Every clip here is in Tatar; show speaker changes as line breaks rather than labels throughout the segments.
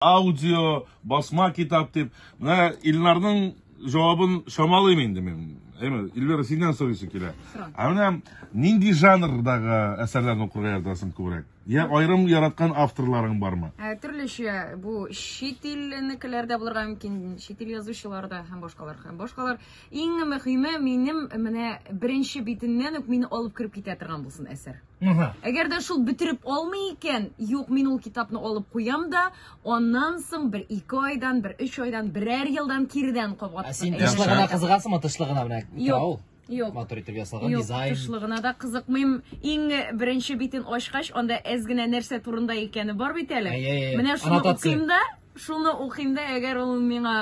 Аудио, басма китап дип. Менә Илнарның җавабын чамалыйм инде мин. Әйме, Илнара синнән сорыйсы килә. Ә менә нинди жанрдагы әсәрләрне укырга яратасың күбрәк? Я аерым яраткан авторларың бармы? Ә, төрлечә бу
чит илнекеләр дә булырга мөмкин, чит ил язучылар да һәм башкалар һәм башкалар. Иң мөһиме минем менә беренче битеннән үк мине алып кереп китә торган булсын әсәр. Ага. Әгәр дә шул бетереп алмый икән, юк, мин ул китапны алып куям да, аннан соң бер ике айдан, бер өч айдан, берәр елдан кирдән кабат. Ә син тышлы гына
кызыгасыңмы, тышлы гына менә ул? Юк. Матур
итеп ясалган
дизайн. Юк, тышлы гына да кызыкмыйм.
Иң беренче битен ачкач, анда әз генә нәрсә турында икәне бар бит әле. Менә шуны укыйм да, Шуны укыйм да, әгәр ул миңа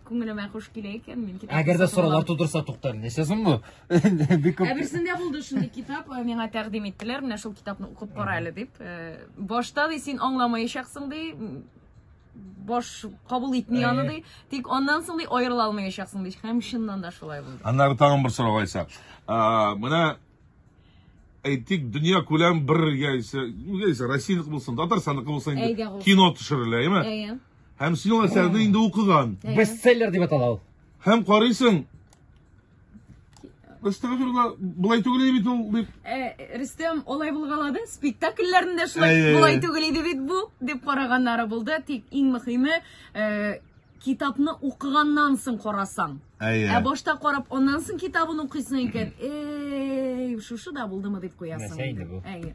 күңелемә хуш килә икән, мин китап. Әгәр дә сораулар тудырса
туктар, нәрсә соң бу? Бик күп. Ә берсендә
булды шундый китап, э, миңа тәкъдим иттеләр, менә шул китапны укып кара әле дип. Э, башта ди син аңламаячаксың ди, баш кабул итми э. аны ди, тик аннан соң ди аерыла алмаячаксың ди. Һәм чыннан да шулай булды. Аннары тагын бер сорау
Айса. Менә әйтик, дөнья күләм бер яисә, яисә Россиянеке булсын, Татарстанныкы булсын инде кино төшерелә, әйме? Әйе. Һәм син ул әсәрне инде укыган. Бестселлер дип атала
ул. Һәм
карыйсың. Астагфирулла, болай түгел иде бит ул дип. Э, Рөстәм
олай булгалады. Спектакльләрендә шулай болай түгел иде бит бу дип караганнары булды. Тик иң мөһиме, э, Китапны укыганнан соң карасаң. Әйе. Ә башта карап, аннан соң китабын укыйсың икән. Эй, шушы да булдымы дип куясың. Нәрсә инде бу? Әйе.